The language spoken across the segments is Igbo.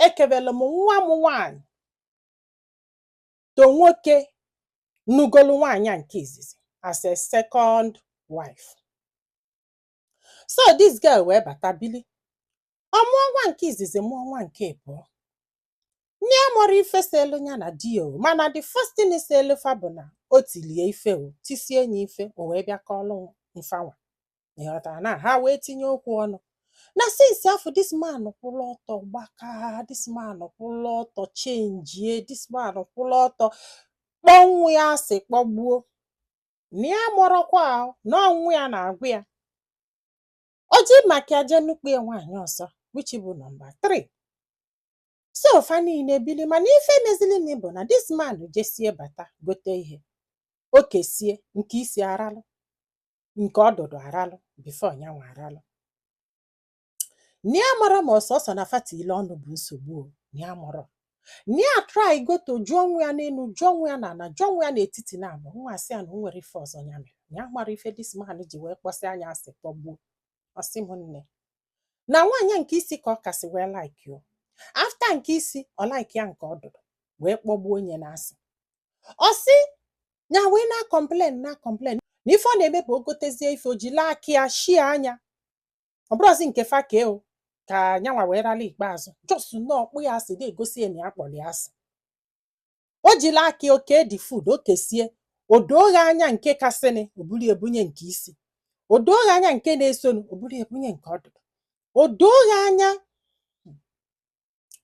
ekebere m nwa m nwaanyị to nwoke nụgolu nwaanyị a nke izizi as a second wife so this girl wee bata bili ọ mụọ nwa nke izizi mụọ nwa nke abụọ na ya amarọ ife selu ya na di ya o mana the first thing selu fa bụ na o tilie ya ife o tisie nya ife o wee bịa kọọlụ mfanwa ịghọtara na ha wee tinye okwu ọnụ na since afụ this man kwụrụ ọtọ gbaka this man kwụrụ ọtọ chenjie this man kwụrụ ọtọ kpọọ nwa ya asị kpọgbuo na ya amarọkwa ahụ na nwa ya na-agwa ya o ji maka ya jee nụkwue nwaanyị ọzọ which bụ number 3 so fa niile bili mana ife mezilinụ bụ na this man jesie bata gote ihe o kesie nke isi aralụ nke ọdụdụ aralụ before nyanwa aralụ na ya amarọ ma ọ sọsọ na fa tiilu ọnụ bụ nsogbu o na ya amarọ na ya try go to jụọ nwa ya n'elu jụọ nwa ya n'ala jụọ nwa ya n'etiti naabọ nwa asị ya na o nwerọ ife ọzọ ya mere na ya amarọ ife this man ji wee kpọsịa nya asị kpọgbuo ọ sị m nne na nwaanyị a nke isi ka ọ kasị wee like o after nke isi ọ like ya nke ọdụdụ wee kpọgbuo nya n'asị ọ sị ya wee na-complain na-complain na ife ọ na-eme bụ o gotezie ife o jili aka ya shie anya ọ bụrụzi nke fa kee o ka nyanwa wee rala ikpeazụ just na ọ kpọ ya asị na-egosi ya na ya kpọrọ ya asị o jiri aka ya ke the food o kesie o dooghe anya nke kasịnị o buru ya bunye nke isi o dooghe anya nke na-esonu o buru ya bunye nke ọdụdụ o dooghe anya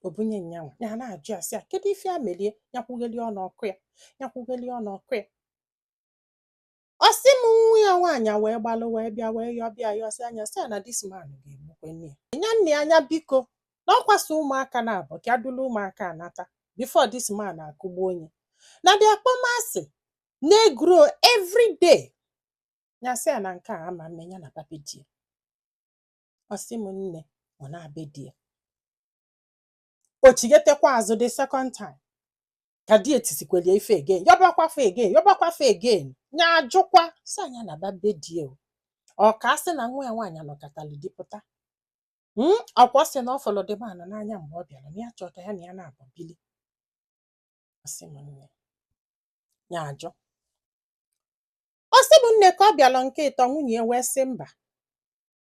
o bunye nyanwa ya na-ajụ asị ya kedu ife ya mere ya nya kwughelie ọnụ ọ kụọ ya nya kwughelie ọnụ ọ kụọ ya Ọ sị m nwa ya nwaanyị wee gbalụ wee bịa wee yọba ya yọsịa nya sị ya na this man ga-egbukwe nya. Nya nee anya biko na ọ kwa sọ ụmụaka naabọ ka ya dulu ụmụaka a nata before this man akụgbuo nya. Na the akpọmasị na-egrow every day. Ya sị ya na nke a ama mme nya naba be di ya. Ọ sị m nne ọ naa be di ya. o chighetekwa azụ the second time ka di ya tisikwelu ya ife again yọbakwa fa again yọbakwa fa again nya ajụkwa sịa nya naba be di ya o ọ ka a sị na nwa ya nwaanyị anọkatala di pụta Mm, ọ kwa sị na ọ fụlụ the man a n'anya mgbe ọ bịara na ya chọọ ka ya na ya naabọ bili Ọ sị m nne ya ajụ ọ sị m nne ka ọ bịara nke ịtọ nwunye ya wee sị mba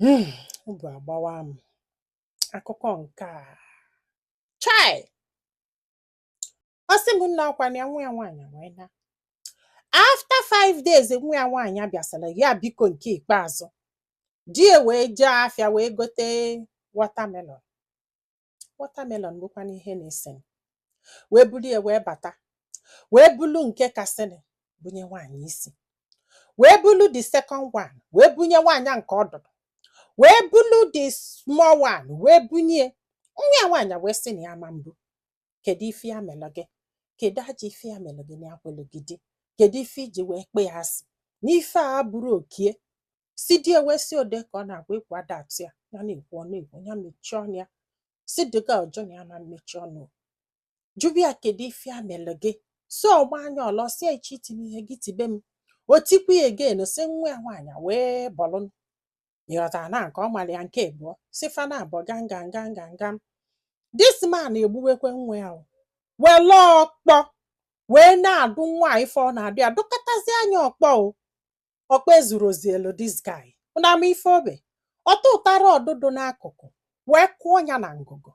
Hmm, obi agbawa m. Akụkọ nke a. Chai! Ọ sị m nna ọ kwa na ya nwa ya nwaanyị wee naa. After five days nwa ya nwaanyị bịa sịrị ya biko nke ikpeazụ. Di ya wee jee afịa wee gote watermelon. watermelon bụkwanụ ihe na-esenụ wee bulu ya wee bata wee bulu nke kasịnị bunye nwaanyị isi wee bulu the second one wee bunye nwaanyị a nke ọdụdụ wee bulu the small one wee bunye nwa ya nwaanyị wee sị na ya ma mbụ kedu ife ya melụ gị kedu ajọ ife ya melụ gị na akwelụ gị di kedu ife i ji wee kpọ ya asị na ife a bụrụ oke ya si di ewe si ọ dị ka ọ na-agwa okwu adat ya ya na-ekwu ọ na-ekwu ya mechie ọnụ ya si dịga ọjọ na ya ama mmechi ọnụ jụba ya kedu ife ya melụ gị so ọ maa ya ọla si echi itinye ihe gị tibe m o tikwu ya again si nwa ya nwaanyị a wee bọlụ ịghọta na nke ọ mara ya nke abụọ so fa na abụọ ganga nga nga nga this man egbuwekwa nwa ya o. wele ọkpọ wee na-adụ nwa ife ọ na-adụ ya dụkọtazia ya ọkpọ o ọkpa ezurozielu this guy unu ama ife o me ọ tụtụta rod dụ n'akụkụ wee kụọ ya na ngụgụ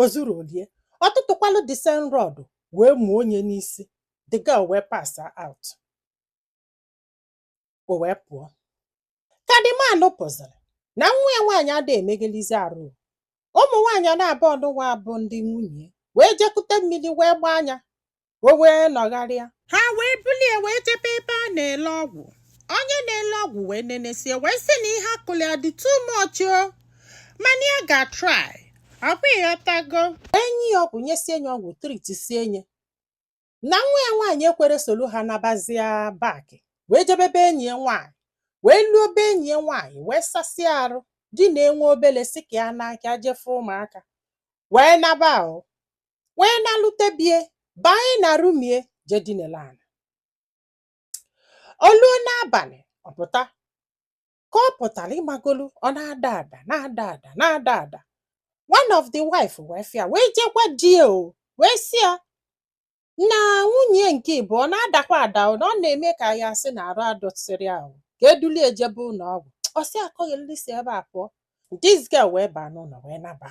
o zuroli ya ọ tụtụkwalụ the same rod wee mụọ ya n'isi the girl wee pass out o wee pụọ ka the man fụzili na nwa ya nwaanyị adịghị emeghalịzi arụ ụmụ nwaanyị na abụọ nụwa bụ ndị nwunye wee je kute mmiri wee gbaa ya o wee nọgharịa ha wee bulie wee jebe ebe a na-ele ọgwụ onye na-ele ọgwụ wee nenesie wee sị na ihe a kụlụ ya dị too much o mana ya ga-try ọkwa ịghọtago e nye ya ọgwụ nyesie ya ọgwụ treatsie ya na nwa ya nwaanyị ekwero solu ha nabazia back wee jebe be enyi ya nwaanyị wee luo be enyi ya nwaanyị wee sasịa arụ dinaa nwa obele sị ka ya n'aka je fụ ụmụaka wee naba o wee nalute be ya banye na room ya je dinelu ana o luo n'abalị ọ pụta ka ọ pụtara ịmagolu ọ na-ada ada na-ada ada na-ada ada one of the wife wee fụ ya wee je gwa di ya o wee sị ya na nwunye nke ịbụọ na-adakwa ada o na ọ na-eme ka ya sị na arụ adịsịrọ ya ka e dulu ya jebe ụlọ ọgwụ ọ sị ya kunili si ebe a pụọ this girl wee baa n'ụlọ wee naba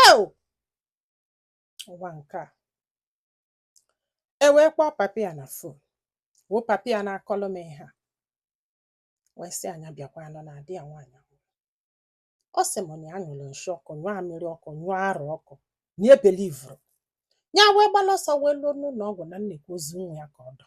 eo ụwa nke a e wee kpọọ papa ya na phone woo papa ya na-akọlụ m ihe a wee sị ya bịakwanụ na ada ya nwaanyị anwụọ ọ sị m na ya nyụrụ nshi ọkụ nyụọ amịrị ọkụ nyụọ arụ ọkụ na ya believuro ya wee gbalụ ọsọ wee luo n'ụlọ ọgwụ na nekwa ozu nwa ya ka ọ dọ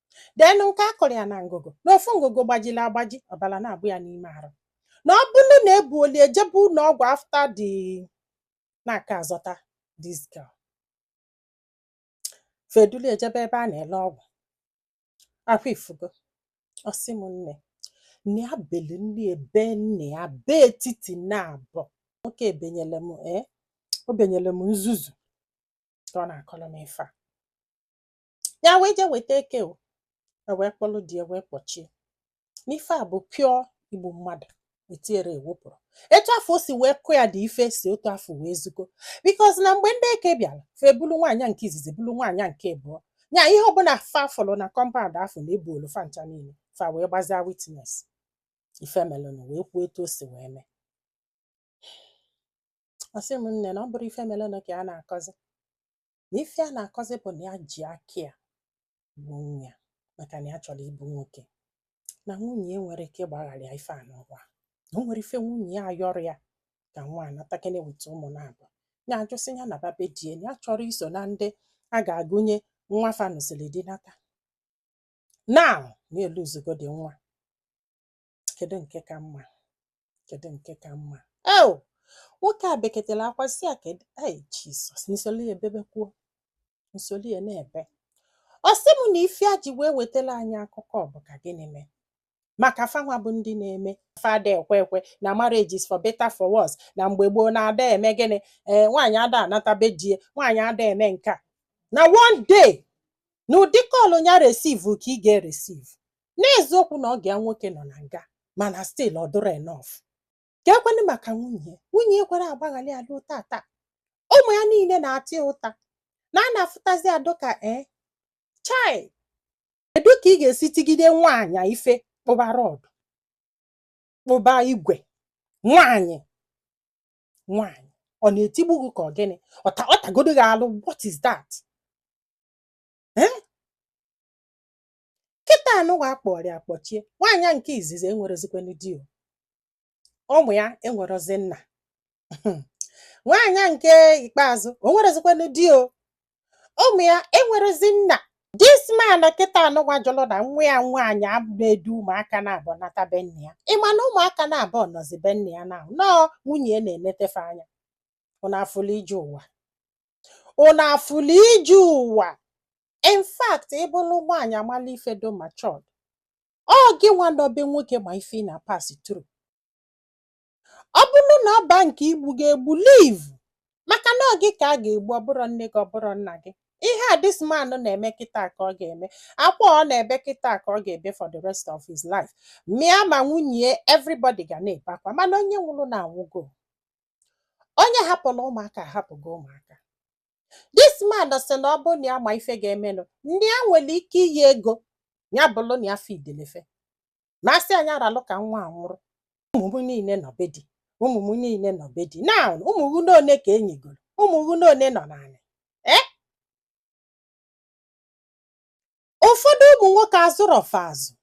then nke a kụrụ ya na ngụgụ na ofu ngụgụ gbajiri agbaji ọbara na-abụ ya n'ime arụ na ọ bụrụ na ebulu ya jebe ụlọ ọgwụ after dị na a ka-azọta this girl fa edulu ya jebe ebe a na-ele ọgwụ ọkwa ị fụgo ọ sị m nne nne ya belu nne ebe nne ya bee etiti na-abọ nwoke ebenyele m ee o benyere m nzuzu ka ọ na-akọrọ m ife a ya wee je weta eke o e wee kpọlụ di ya wee kpọchie n'ife a bụ pure igbu mmadụ etinyerọ ewepụrọ etu afụ o si wee kụ ya dị ife si otu afụ wee zugo because na mgbe ndị eke bịara fa ebulu nwaanyị nke izizi bulu nwaanyị nke abụọ nya ihe ọbụla fa fụlụ na compound afụ fa ebulu fa ncha niile fa wee gbazia witness ife melụnụ wee kwuo etu o si wee mee ọ sị m nne na ọ bụrọ ife melụnụ ka a na-akọzi na ife a na-akọzi bụ na ya ji aka ya gbuo nwa ya maka na ya chọrọ ịbụ nwoke na nwunye ya enwerọ ike ịgbaghara ya ife anụwa na o nwerọ ife nwunye ya ayọrọ ya ka nwa natakene weta ụmụ naabọ ya ajụ sị ya naba be di e na ya achọrọ iso na ndị a ga-agụnye nwa fa nụsịrị di nata na na eluzugodi nwa kedu nke ka mma kedu nke ka mma eo nwoke a beketela akwa sị ya kedu ei jizọs m solu ya bebekwuo m solu ya na-ebe ọ sị m na ife a ji wee wetara anyị akụkọ ọ bụ ka gịnị mee maka fanwa bụ ndị na-eme fa ada ekwe ekwe na marriage is for better for worse na mgbe gboo na ada eme gịnị ee nwaanyị ada anata be di e nwaanyị ada eme nke a na one day na ụdị call ya receive ka ị ga-receive n'eziokwu na ọgọ ya nwoke nọ na nga mana still ọ dịrọ enough kee kwanụ maka nwunye ya nwunye ya ekwerọ agbaghara ya ruo tata ụmụ ya niile na-ata ya ụta na a na-afụtazi adụ ka ee chai kedu ka ị ga-esi tigide nwaanyị ife kpụba rod kpụba igwe nwaanyị nwaanyị ọ na-etigbu gị ka ọ gịnị ọ ta ọ tagodu gị alụ what is that kịta anụwa akpọrọ ya kpọchie nwaanyị nke izizi enwerọzikwanụ di o ụmụ ya enwerọzi nna nwaanyị nke ikpeazụ enwerọzikwanụ di o ụmụ ya enwerọzi nna this man kịta anụwa jụrụ na nwa ya nwaanyị ama edu ụmụaka naabọ nata be nne ya ị ma na ụmụaka naabọ nọzi be nne ya na nọọ nwunye ya na-eneta fa anya ụnụ afụlụ ije ụwa ụnụ afụlụ ije ụwa in fact ị bụrụ nwaanyị amala ife dụ matured ọ gị nwa nọ be nwoke ma ife ị na-pass through ọ bụrụ na ọ baa nke igbu gị egbu leave maka na ọ gị ka a ga-egbu ọ bụrọ nne gị ọ bụrọ nna gị ihe a this man na-eme kịta ka ọ ga-eme akwa ọ na-ebe kịta ka ọ ga-ebe for the rest of his life ma ya ma nwunye everybody ga na-ebe akwa mana onye nwụrụnụ anwụgo onye hapụrụ ụmụaka ahapụgo ụmụaka this man sị na ọ bụrụ na ya ma ife ga-emenụ ndị a nwere ike iyi ego ya bụrụ na ya fidelefe na asị anyị aralụ ka nwa a nwụrụ ụmụ m niile nọ be di ụmụ m niile nọ be di now ụmụ gị n'one ka e nigoro ụmụ gị n'one nọ n'anị ee ụfọdụ ụmụ nwoke azụrọ fa azụ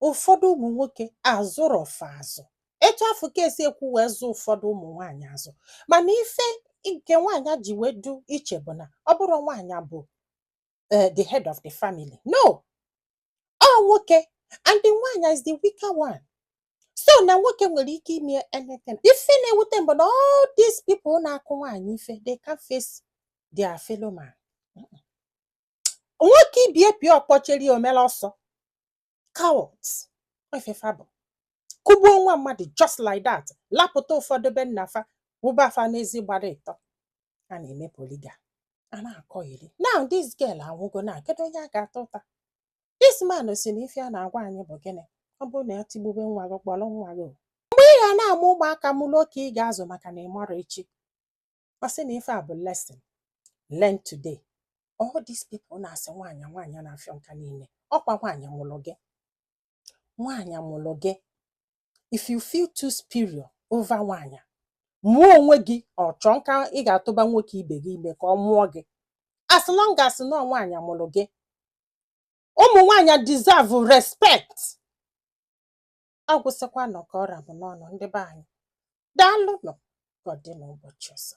ụfọdụ ụmụ nwoke azụrọ fa azụ etu afụ ka e sikwu wee zụ ụfọdụ ụmụ nwaanyị azụ mana ife nke nwaanyị ji wee dụ iche bụ na ọ bụrọ nwaanyị bụ eh, the head of the family no ọ nwoke and the nwaanyị is the weaker one so na nwoke nwere ike ime anything ife na-ewute m bụ na all these people na-akụ nwaanyị ife they can't face their fellow man nwoke ibe ya pịa ọkpọ chere o mela ọsọ cowards ọ ife fa bụ kụgbuo nwa mmadụ just like that lapụta ụfọdụ be nna fa wụba fa n'ezi gbara ịtọ a na-eme poliga a na-akọ iri now this girl anwụgo na kedu onye a ga-ata ụta this man sị na ife a na-agwa anyị bụ gịnị ọ bụrụ na e tigbube nwa gị kpọrọ nwa gị o. mgbe ị ga na-amụ ụmụaka mụrụ oke ị ga-azụ maka na ị marọ echi ọ sị na ife a bụ lesson learn today all these people na-asị nwaanyị nwaanyị na-afịọ nka niile ọ kwa nwaanyị mụrụ gị nwaanyị mụrụ gị if you feel too superior over nwaanyị mụọ onwe gị or chọọ nka ị ga-atụba nwoke ibe gị ime ka ọ mụọ gị as long as na ọ nwaanyị mụrụ gị ụmụ nwaanyị deserve respect agwụsịkwanụ ka ọ ra m n'ọnụ ndị be anyị daalụnụ ka ọ dị n'ụbọchị ọzọ